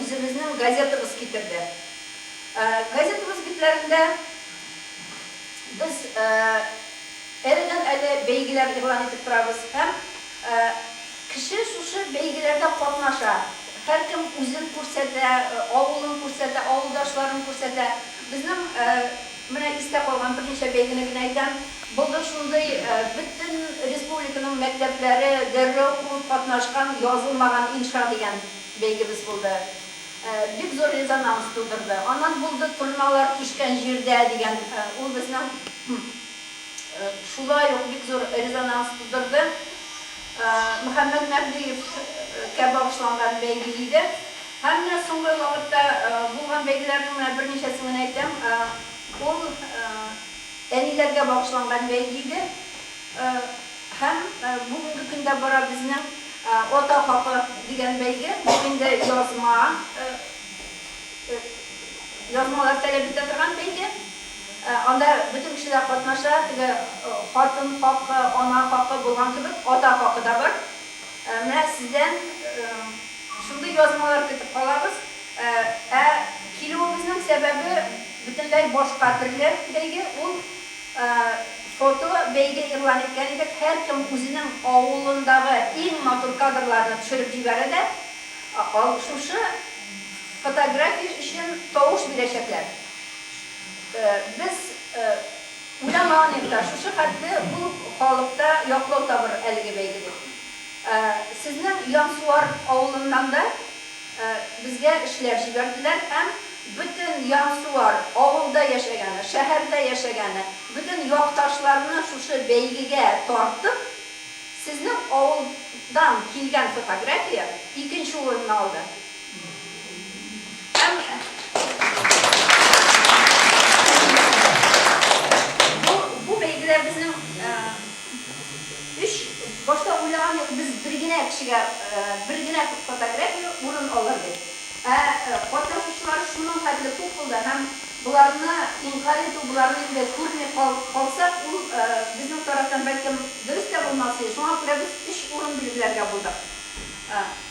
Үзебезнең газетабыз китерде. Газетабыз битләрендә без әледән-әле бәйгеләр игълан итеп торабыз һәм кеше шушы бәйгеләрдә катнаша, һәркем үзен күрсәтә, авылын күрсәтә, авылдашларын күрсәтә. Безнең менә истә калган берничә бәйгене генә әйтәм. Булды шундый, бөтен республиканың мәктәпләре дәррәү куып катнашкан Язылмаган инша дигән. Бәйгебез булды. Бик зур резонанс тудырды. Аннан булды торналар кичкән җирдә дигән, ул безнең шулай ук бик зур резонанс тудырды. Мөхәммәт Мәһдиев кә багышланган бәйге иде. Һәм менә соңгы вакытта булган бәйгеләрнең менә берничәсен генә әйтәм. Ул әниләргә багышланган бәйге иде. Һәм бүгенге көндә бара безнең Ата хакы дигән бәйге. Бу инде язма, язмалар таләп итә торган бәйге. Анда бөтен кешеләр катнаша, теге хатын хакы, ана хакы булган кебек, ата хакы да бар. Менә сездән шундый язмалар көтеп калабыз. Ә килүебезнең сәбәбе бөтенләй башка төрле бәйге, ул. Фото бәйге игълан иткән идек. Һәркем үзенең авылындагы иң матур кадрларны төшереп җибәрә дә, шушы фотография өчен тавыш бирәчәкләр. Без уйламаган идек та, шушы хәтле күп халыкта яклау табыр әлеге бәйге дип. Сезнең Ямсуар авылыннан да. Безгә эшләп җибәрделәр һәм бөтен Янсуар, авылда яшәгәне, шәһәрдә яшәгәне, бөтен якташларны шушы бәйгегә тартып, сезнең авылдан килгән фотография икенче урынны алды. Һәм бу бәйгеләр безнең Өч, башта уйлаган идек, без бер генә кешегә, бер генә фотография урын алыр дип. Ә катнашучылар шуның хәтле күп булды һәм боларны инкарь итү, боларны инде күрми калсак, ул безнең тарафтан, бәлкем, дөрес тә булмас иде. Шуңа күрә без өч урын билгеләргә булдык.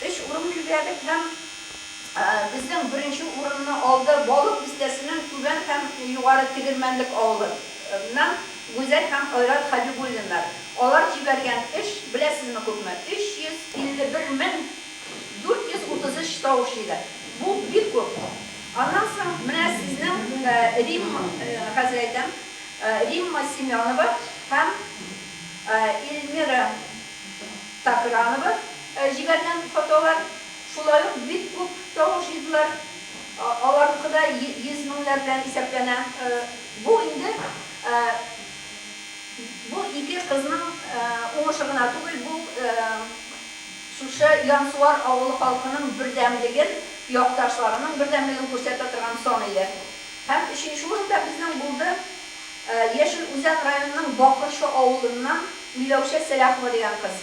Өч урын билгеләдек һәм безнең беренче урынны алды Балык Бистәсенең Түбән һәм Югары Тегермәнлек авылы. Ннан, Гүзәл һәм Айрат Хәбибуллиннар. Алар җибәргән эш, беләсезме күпме? 351 мең 433 тавыш җыйды. Бу, бик күп. Аннан соң, менә сезнең Рим, хәзер әйтәм, Римма Семенова һәм Эльмира Такранова җибәргән фотолар, шулай ук бик күп тавыш җыйдылар. Аларныкы да йөз меңнәр белән исәпләнә. Бу инде бу ике кызның уңышы гына түгел, бу шушы Янсуар авылы халкының бердәмлеген, якташларының бердәмлеген күрсәтә торган сан иде. Һәм өченче урында безнең булды Яшел Үзән районының Бакырчы авылыннан Миләүшә Сәлахова дигән кыз.